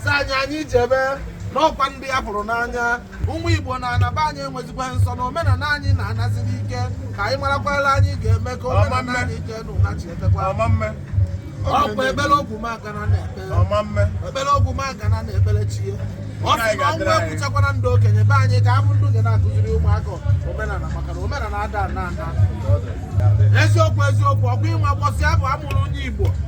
si anyị anyị jebe n'ọkwa ndị a fụrụ n'anya ụmụ igbo na-anaba anyị enwezikwa nsọ na omenala anyị na-anazi n'ike ka anyị marakwala anyị ga-eme ka omenala anyị jee n'ụna chi etekwa ọkwa ekpere ogwumagana na-ekpere ekpere ogwumagana na-ekpere chi ya ọ sị na ọnwụ egbuchakwana ndị okenye be anyị ka a fụ ndị ga na-akụziri ụmụaka omenala maka na omenala ada ana ana eziokwu eziokwu ọkwa ịma mbọsị afụ a mụrụ onye igbo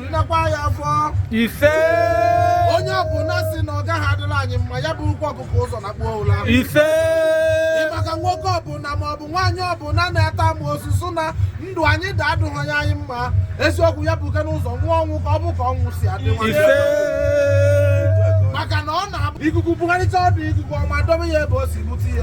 nnekwa ya afọ ise onye ọbụla si na ọ gaghị adịrị anyị mma ya burukwa ọkụkọ ụzọ nakpuo ụla ise maka nwoke ọbụla ma ọ bụ nwaanyị ọbụla na-ata amoosu na ndụ anyị da adịghị ya anyị mma eziokwu ya bukene ụzọ nwụọ ọnwụ ka ọ fụ ka ọnwụ si adị maka na ọ na-abụ ikuku bugharịcha ọdụ ikuku ọma dobe ya ebe o si bute ya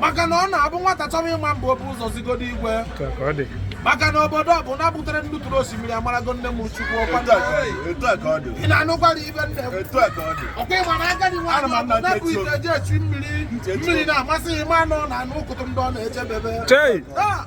maka na ọ na-abụ nwata chọrọ ịma mba o bu ụzọ zigodo igwe maka na obodo ọbụna butere ndị tụrụ osimiri amarago nne m chukwu ọkwa ị na-anụkwara ife nne m ọkwa ịma na agadi nwaanyị ọ bụ na-ebu ite e ji echu mmiri mmiri na-amasị ịma na ọ na-aṅụ ụkụtụ ndị ọ na-eje be fa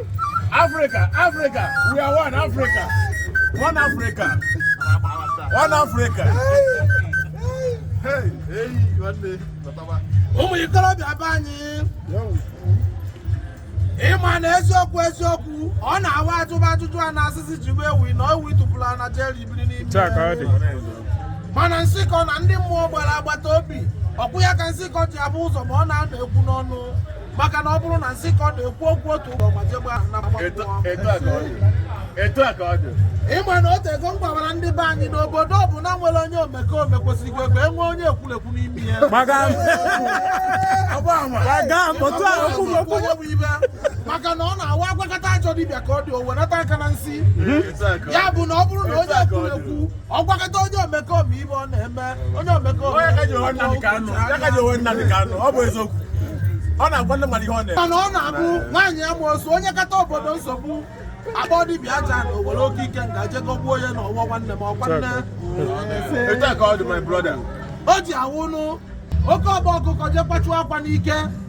Africa, Africa, we are one Africa. One Africa. One Africa. Ụmụ ikorobịa be anyị ịma na eziokwu eziokwu ọ na-awa a jụba ajụjụ a na-asị sị jụba ewi na ewi tupuru ana jeri biri n'ime mana nsịkọ na ndị mmụọ gbara agbata obi ọkwa ya ka nsịkọ ji afụ ụzọ ma ọ narọ ekwu n'ọnụ maka na ọ bụrụ na nsịkọ na-ekwu okwu otu ụlọ ma jegbe ahụ na etu a ka ọ dị ịma na o tego m gwawara ndị be anyị na obodo ọbụna nwere onye omekome kwesịrịkwa ka e nwee onye ekwulekwu n'ime ya maka na ọ na-awa a gwakata ajọ dibịa ka ọ dị o wenata aka na nsi ya bụ na ọ bụrụ na onye ekwulekwu ọ gwakata onye omekome ife ọ na-eme onye omekome ọ ya ka e ji nwee Nnamdi Kanu ya ka e ji nwee Nnamdi Kanu ọ bụ eziokwu ọ na-agwa ndị mmadụ ihe ọ na-eme mana ọ na-abụ nwaanyị amoosu nyekata obodo nsogbu a kpọọ dibịa aja na o were oke ikenga je gọgbuo onye na ọwa nwanne m ọkwa nne etu a ka ọ dị my brother o ji awụnụ oke ọkpa ọkụkọ je kwachuo akwa n'ike